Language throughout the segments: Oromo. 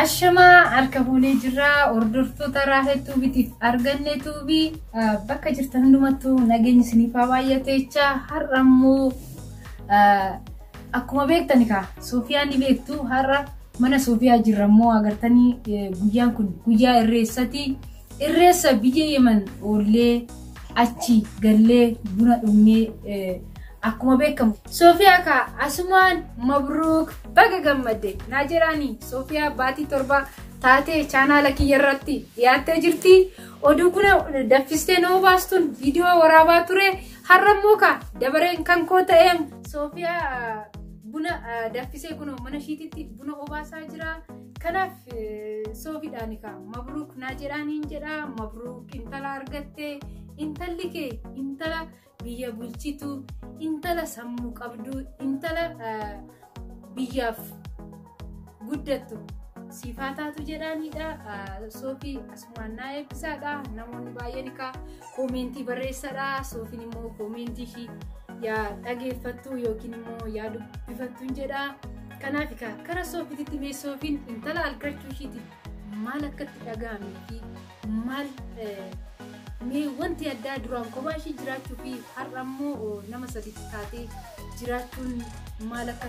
Ashamaa harka fuunee jirra hordoftoota Raahel Tuubitiif arganne tuubii bakka jirtan hundumattuu nageenyi isiniif haa baay'atu jecha har'a immoo akkuma beektan egaa Soofiyaa ni beektu har'a mana Soofiyaa jirra immoo agartanii guyyaan kun guyyaa irreessati. Irreessa biyya Yemen oollee achi gallee buna dhugnee eh, akkuma beekamu. Soofiyaa kaa asumaan mabruuk baga gammadde naa jedhaani Soofiyaa baatii torba taatee chaanaala kiyya irratti dhiyaattee jirti. Oduu kuna daffistee nama baastuun viidiyoo waraabaa ture har'a immoo kaa dabareen kan koo ta'eem Soofiyaa ah, buna ah, daffisee kunoo mana ishiititti buna obaasaa jira. Kanaaf soofidhaan egaa mabruuk naa jedhaan hin jedhaa mabruuk intala argattee intalli kee intala biyya bulchitu intala sammuu qabdu intala biyyaaf guddattu siifaa taatu jedhaanidha soofii. Mannaa eebbisaadha. Namoonni baay'een egaa koomeentii barreessadha. Soofiin immoo koomeentii ishii yaa dhageeffattu yookiin immoo yaa dubbifattu hin jedha. Kanaaf egaa gara soofiititti mee soofiin intala argachuu ishiiti maal akka itti dhaga'ametti maal mee wanti addaa duraan kophaa ishii jiraachuu fi har'a immoo nama sadiitti taatee jiraachuun maal akka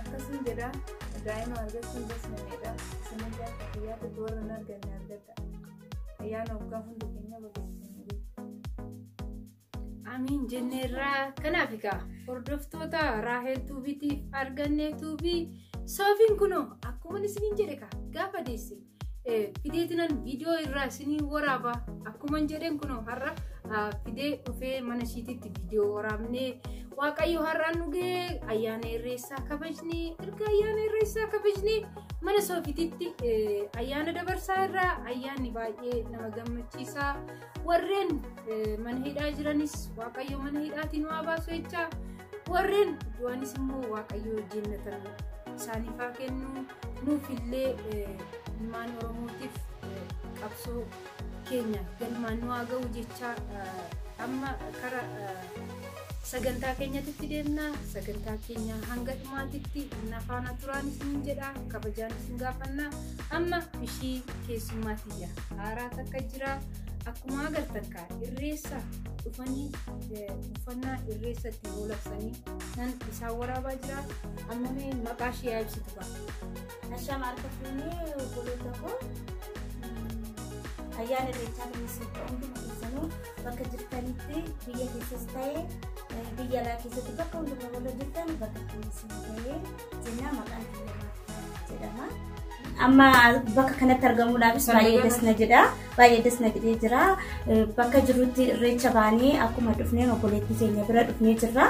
Akkasuma jedha daa'ima argachuun basmaneedha. Isinillee akka fayyaa tokko warra hin arganne argadha. Ayyaana waggaa hundi keenya babeessanii Amiin jenneerraa kanaaf egaa hordoftoota Raahel Tuubiitiif arganne tuubii soofiin kunoo akkuma isiniin jedhe kaa gaafa deesse fideetinan viidiyoo irraa isinii waraaba akkuman jedhen kunoo har'a fidee dhufee mana ishiititti viidiyoo waraabnee waaqayyo har'aan dhugee ayyaana irreessaa kabajnee erga ayyaana irreessaa kabajnee mana soofititti ayyaana dabarsaa irraa ayyaanni baay'ee nama gammachiisaa warreen mana hidhaa jiranis waaqayyo mana hidhaatiin waa baasu jechaa warreen du'anis immoo waaqayyo jennatan isaaniif haa kennu nuufillee ilmaan oromootiif qabsoo keenya galmaan nu haa ga'u jechaa amma kara Sagantaa keenyatitti deemna. Sagantaa keenya hanga dhumaatitti na faana turaan isin jedha. Kabajaan isin gaafanna. Amma ishii keessummaa tiyya haaraa takka jira. Akkuma agartan kaa irreessa dhufanii eh, uffannaa irreessa ittiin oolabsanii nan isaan waraabaa jira. Amma mee maqaa ishee yaa ibsitu kaa. Ashaa maarka fuunee obboloota koo ayyaana irreechaa kan isin hundi keessanuu bakka jirtanitti biyya keessas ta'ee biyya alaa keessatti bakka hundumaa warra jirtan bakka keessan ta'ee jennaa maqaan biyya jedhama. Amma bakka kanatti argamuudhaafis baay'ee das na jedha. Baay'ee das na jedhee jira. Bakka jirutti irreecha baanee akkuma dhufneen obboleettii keenya bira dhufnee jirra.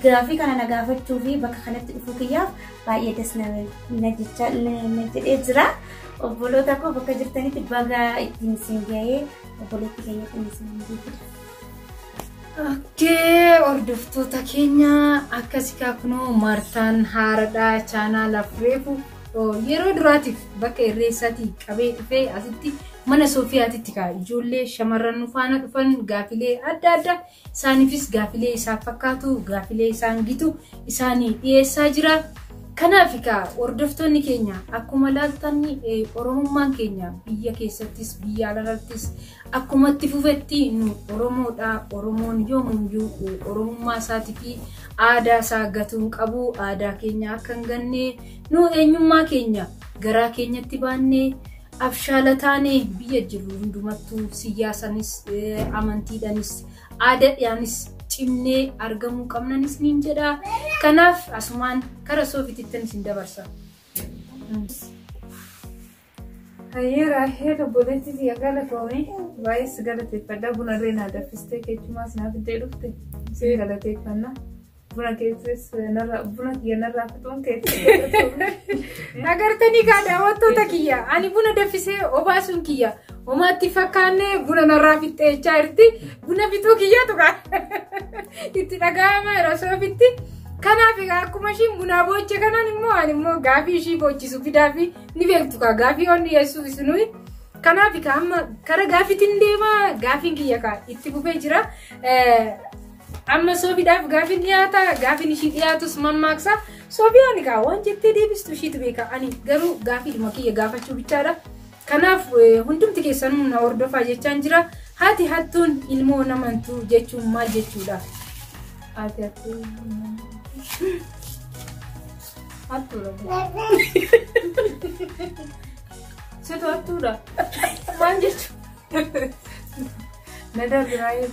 Gaafii kana na gaafachuu fi bakka kanatti dhufuu kiyyaaf baay'ee das na jechaa na jedhee jira. Obboloota koo bakka jirtanitti baga ittiin isin ga'ee obboleetti keenya ittiin isin ga'eedha. Okkee hordoftoota keenya akkasi kunoo Martaan haaradhaa chaanaala fureefu yeroo duraatiif bakka irreessaatii qabee dhufee asitti mana Soofiyaatitti kaa ijoollee shamarran faana dhufan gaafilee adda addaa Isaaniifis gaafilee isaan fakkaatu, gaafilee isaan gitu isaani dhiyeessaa jira. Kanaaf egaa hordoftoonni keenya akkuma laaltan Oromummaan keenya biyya keessattis biyya alarrattis akkuma itti fufetti nu Oromoodha. Oromoon yoomuyyuu Oromummaa isaatii fi aadaa isaa gatuu hin qabu. Aadaa keenya akka hin ganne nu eenyummaa keenya garaa keenyatti baannee Abshaala taane biyya jirru hundumattuu siyyaasanis, amantiidhanis, aadadhaanis cimnee argamuu qabnan isiniin jedha. Kanaaf asumaan kara soofitittan isin dabarsa. Hayyee raahee obboleetti siya galatoomi baay'ee si galateeffadha bunarree naa daffistee keechumaas naa fiddee dhufte si galateeffanna. Buna keessas narraa buna kiyya narraa fixuun keessas. Agartanii kaa daawwattoota kiyya ani buna daffisee obaasuun kiyya homaatti fakkaannee buna narraa fixxee jechaa jirti buna fixuu kiyya tuqa itti dhaga'ama yeroo soofitti kanaaf egaa akkuma ishiin bunaa booche kanaan immoo ani immoo gaafii ishii boochisu fidaa fi ni beektu kaa gaafii waan dhiyeessuuf isinuyi. Kanaaf egaa amma kara gaafiitiin deema gaafiin kiyya kaa itti fufee jira. Amma Soofiidhaaf gaafin dhiyaata. Gaafin ishii dhiyaatus mammaaksa. Soofiyaan egaa waan jettee deebistu ishiitu beeka. Ani garuu gaafiidhuma kiyya gaafachuu bichaadha. Kanaaf eh, hundumti keessanuu na hordofaa jechaan jira. Haati hattuun ilmoo namantu jechuun maal jechuudha? Haati hattuun hattuudha. Situ hattuudha. Maal jechuudha? Nadaa biraayee.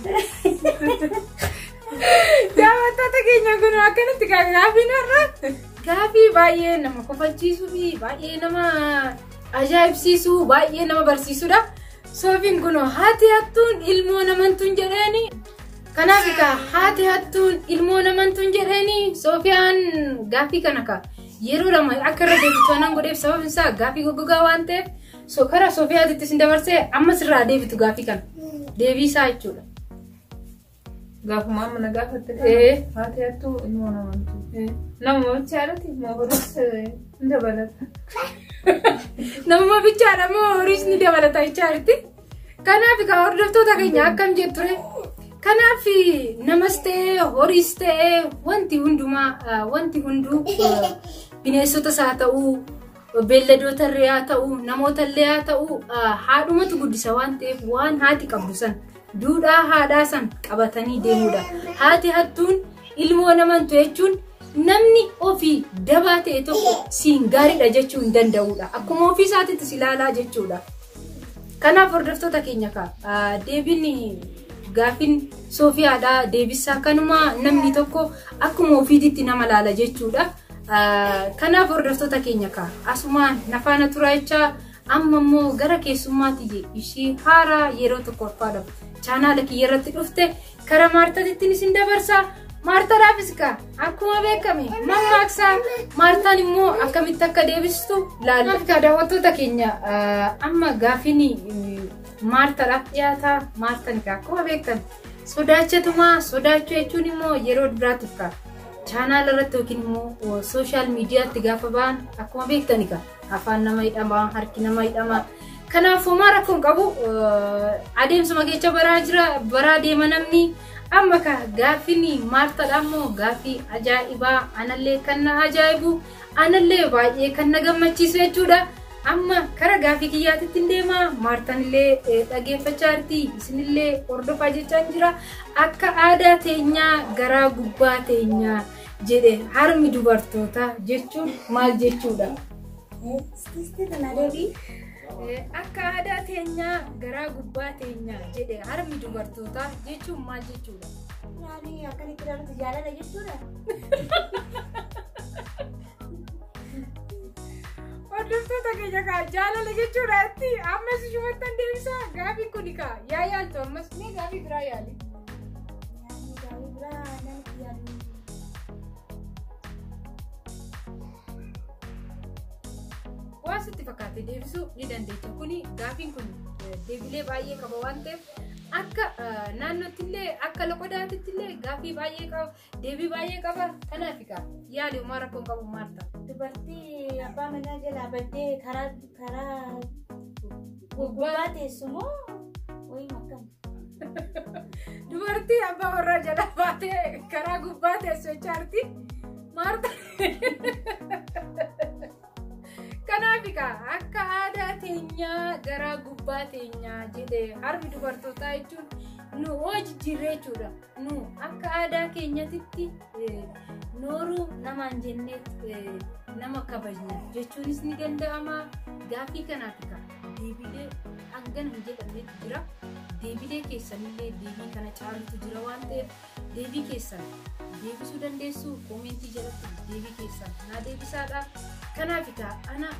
Daawwattoota keenya kun akkanatti kan gaafiin har'a gaafii baay'ee nama kofachiisuu fi baay'ee nama ajaa'ibsiisuu baay'ee nama barsiisudha. Soofiin kun haati hattuun ilmoo namantuun jedheeni. Kanaaf egaa haati hattuun ilmoo namantuun jedheeni Soofiyaan gaafii kana ka yeroo lama akka irra deebitu anaan godheef sababni isaa gaafii goggogaa waan ta'eef So kara Sofiyaatti itti isin dabarsee amma sirraa deebitu gaafii kana. Deebii isaa jechuudha. Gaafuma amma na gaafatte. Ee. Haati hattuu ilmoo namantu. Nama bichaadhati ilmoo horuus hin dabalata. Nama bichaadha moo horiis ni dabalata jechaatti. Kanaaf egaa hordoftoota keenya akkam jetture. Kanaaf namas ta'ee horiis ta'ee wanti hundumaa ah, wanti hunduu ah, bineensotas haa ta'uu beelladootarree haa ta'u namootallee haa ta'u haadhumatu guddisa waan ta'eef waan haati qabdu san duudhaa haadhaa san qabatanii deemuudha. Haati hattuun ilmoo namantu jechuun namni ofii dabaa ta'e tokko siin gaariidha jechuu hin danda'uudha. Akkuma ofii isaatiitis ilaalaa jechuudha. Kanaaf hordoftoota keenya kaa deebiin gaafin Soofiyaadhaa deebisaa kanuma namni tokko akkuma ofiititti nama laala jechuudha. Kanaaf hordoftoota keenya kaa asumaan nafaana turaa jechaa amma immoo gara keessummaa tiyye ishii haaraa yeroo tokkoffaadhaaf chaanaala kiyya irratti dhufte karaa maartatittiin isin dabarsa. Maartaadhaafis kaa akkuma beekame mammaaksa maartaan immoo akkamitti akka deebistu laalla. Kaa daawwattoota keenya amma gaafiin maartaadhaaf dhiyaataa maartaan kaa akkuma beekame sodaachatumaa sodaachuu jechuun immoo yeroo duraatiif kaa. Chaanaala irratti yookiin immoo sooshaal miidiyaatti gaafa ba'an akkuma beektan egaa afaan nama hidhama harki nama hidhama. Kanaaf homaa rakkoo hin qabu adeemsuma keessa baraa jira baraa deema namni amma ka gaaffiin maartadha ammoo gaaffii ajaa'ibaa anallee kan na ajaa'ibu. Anallee baay'ee kan na gammachiisu jechuudha. Amma kara gaafii kiyyaatitti hin deema. Maartanillee dhageeffachaa jirti. Isinillee hordofaa jechaan jira. Akka aadaa teenyaa garaa gubbaa teenyaa jedhe harmi dubartoota jechuun maal jechuudha? Akka aadaa teenyaa garaa gubbaa teenyaa jedhe harmi dubartoota jechuun maal jechuudha? Hordoftoota keenya kaa jaalala jechuudha itti ammas shumattan deebisaa gaafiin kuni kaa yaa yaaltu ammas mee gaafii biraa yaali. Waan sitti fakkaate deebisuu ni dandeecha. Kuni gaafiin kun deebilee baay'ee qaba waan ta'eef akka naannootti illee akka loqodaatti illee gaafii baay'ee qaba. Deebii baay'ee qaba. Kanaaf egaa yaali uumaa rakkoo hin qabu maal ta'a? Dubartii abbaa manaa jalaa baddee karaa karaa gubbaa teessu moo wayii akkam? Dubartii abbaa warraa jalaa baatee karaa gubbaa teessu jechaarti. Maarta. Kanaaf egaa akka aadaa teenyaa garaa gubbaa teenyaa jedhee harmi dubartootaa jechuun nu hojii jijjiirree jechuudha. nu akka aadaa keenyatitti nooruu namaan jennee nama kabajna jechuunis ni danda'ama gaafii kanaaf egaa deebiilee hangana hin jedhamnetu jira deebiilee keessanillee deebii kana caalutu jira waan ta'eef deebii keessan deebisuu dandeessu koomentii jalatti deebii keessan naa deebisaadha kanaaf egaa ana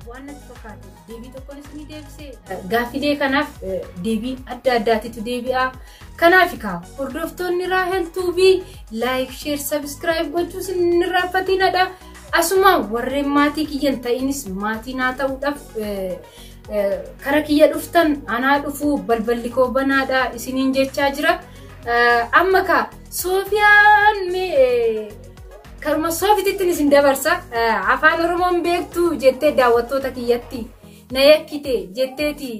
waan natti fakkaate deebii tokkoon isinii deebisee. Gaaffilee kanaaf deebii adda addaatitu deebi'a. Kanaaf egaa hordoftoonni Raahel Tuubii laayik, sheer, sabiskiraayib gochuu isin irraanfatinadha. Asuma warreen maatii kiyyan ta'inis maatii naa ta'uudhaaf kara kiyya dhuftan anaa dhufuu balballi koo banaadha isiniin jechaa jira. Amma kaa Soofiyaan mee Karuma soofitittiin isin dabarsa afaan oromoon beektu jettee daawwattoota kiyyatti na yakkite jetteeti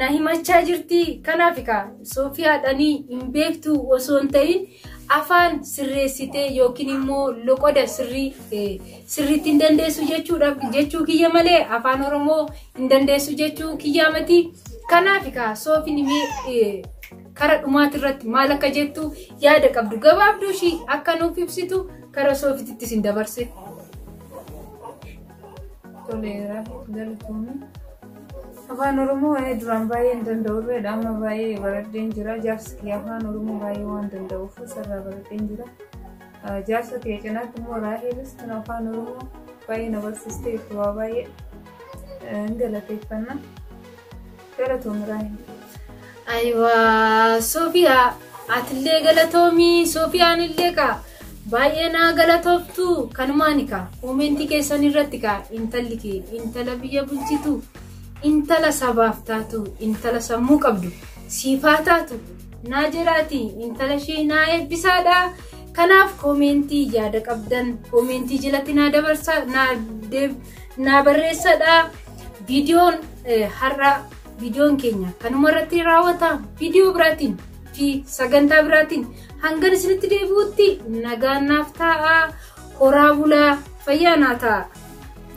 na himachaa jirti kanaaf egaa soofiyaadhanii hin beektu osoo hin ta'in afaan sirreessitee yookiin immoo loqoda sirrii sirriitti hin dandeessu jechuudha jechuu kiyya malee afaan oromoo hin dandeessu jechuu kiyyaa miti kanaaf egaa soofin imee Kara dhumaati irratti maal akka jettu yaada qabdu gabaabduu ishii akka nuuf ibsitu kara soofititti isin dabarse. Toleera galatoomii. Afaan Oromoo waa'ee duraan baay'ee hin danda'u irreedha. Amma baay'ee baradheen jira. Jaarsi kee afaan Oromoo baay'ee waan danda'uuf sarara baradheen jira. Jaarsa kee cinaatti immoo Raaheelis kan afaan Oromoo baay'ee na barsiistee waa baay'ee hin galateeffanna. Galatoomi Raahim. Ayiwaa Sofiyaa atillee galatoomii Sofiyaan illee kaa baay'ee naa galatooftu kanumaani kaa koomentii keessan irratti kaa intalli kee intala biyya bulchitu intala sabaaf taatu intala sammuu qabdu siifaa taatu naa jiraati intala ishee naa eebbisaadha kanaaf koomentii yaada qabdan koomentii jalatti naa dabarsaa naa deeb- naa barreessadha. Viidiyoon har'aa viidiyoon keenya kanuma irratti raawwata viidiyoo biraatiin fi sagantaa biraatiin hangan isinitti deebi'utti nagaan naaf taa'aa horaa bulaa fayyaa naa ta'a.